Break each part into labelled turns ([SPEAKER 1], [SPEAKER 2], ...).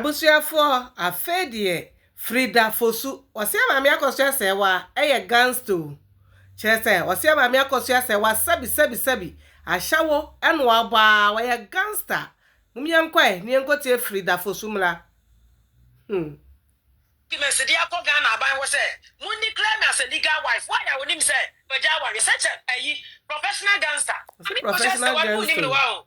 [SPEAKER 1] Abusuafoɔ afei deɛ Frida Fosu. Ɔsea maame akɔso asɛewa ɛyɛ gangsta o kyerɛ sɛ ɔsea maame akɔso asɛewa sɛbi sɛbi sɛbi ahyɛwo ɛna wabɔ aa ɔyɛ gangsta mom yɛnkɔ ɛ ne yɛnkɔ tie Frida Fosu mmra hmm. Documents de akɔ Ghana aban hɔ sɛ mo declare me as a legal wife why a wonim sɛ magya awareɛ such a ayi professional gangster maame akɔso asɛewa no mo nnim no why o.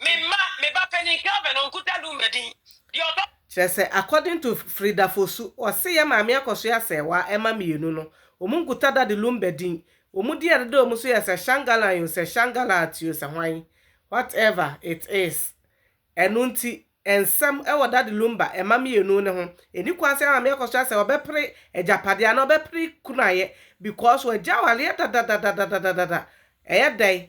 [SPEAKER 1] Me mma, me ba panin Kelvin, ɔnkuta Luma din. Deɛ ɔtɔ. Kyerɛ sɛ, according to Frida Fosu, ɔse yɛ maame akɔsoɛ asɛɛwa ɛma mmienu no, wɔn nkuta Daddy Lumba din. Wɔn din a ɛdeda wɔn so yɛ sɛ Shangalan o, sɛ Shangalat o, sɛ hwan, what ever it is. Ɛno nti, nsɛm wɔ Daddy Lumba mma mmienu no ho. Ɛnni kwan sɛ maame akɔsoɛ asɛɛwa bɛpere agyapadeɛ anaa ɔbɛpere kunaeɛ because wɔagya awareɛ dadadadadadadada. Ɛyɛ dɛn?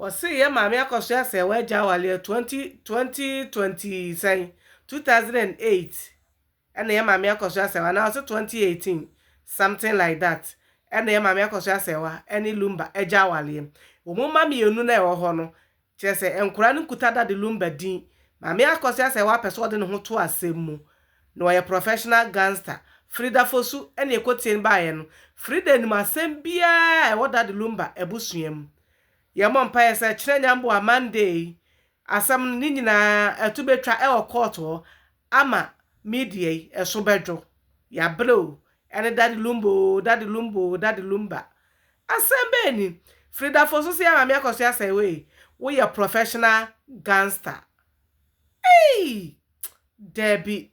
[SPEAKER 1] Wɔse yɛ maame akɔso asɛe w'agya aware ɛ twenty twenty twenty sɛn two thousand and eight ɛna yɛ maame akɔso asɛe wo anaa ɔse twenty eighteen something like that ɛna yɛ maame akɔso asɛe wa ɛne lumba agya awareɛ wɔn mma mmienu na ɛwɔ hɔ no kyerɛ sɛ nkora no nkuta da de lumba din maame akɔso asɛe wa pɛ sɛ ɔde ne ho to asɛm mu Na ɔyɛ professional gangster. Frida Fosu na ekotsie no baeɛ no. Frida nim asɛm biara a ɛwɔ Daddy Lumba abusua mu. Yɛmmɔ mpaeɛ sɛ kyerɛ nyamboa Monday yi asɛm no ne nyinaa atu bɛtwa wɔ court hɔ ama media yi so bɛdwo. Yɛabrɛ o, ɛne Daddy Lumba o, Daddy Lumba o, Daddy Lumba. Asɛm bɛn ni? Fridafo nso se Maame Akɔsoɛ Asɛewee woyɛ professional gangster. Eii! Dabi.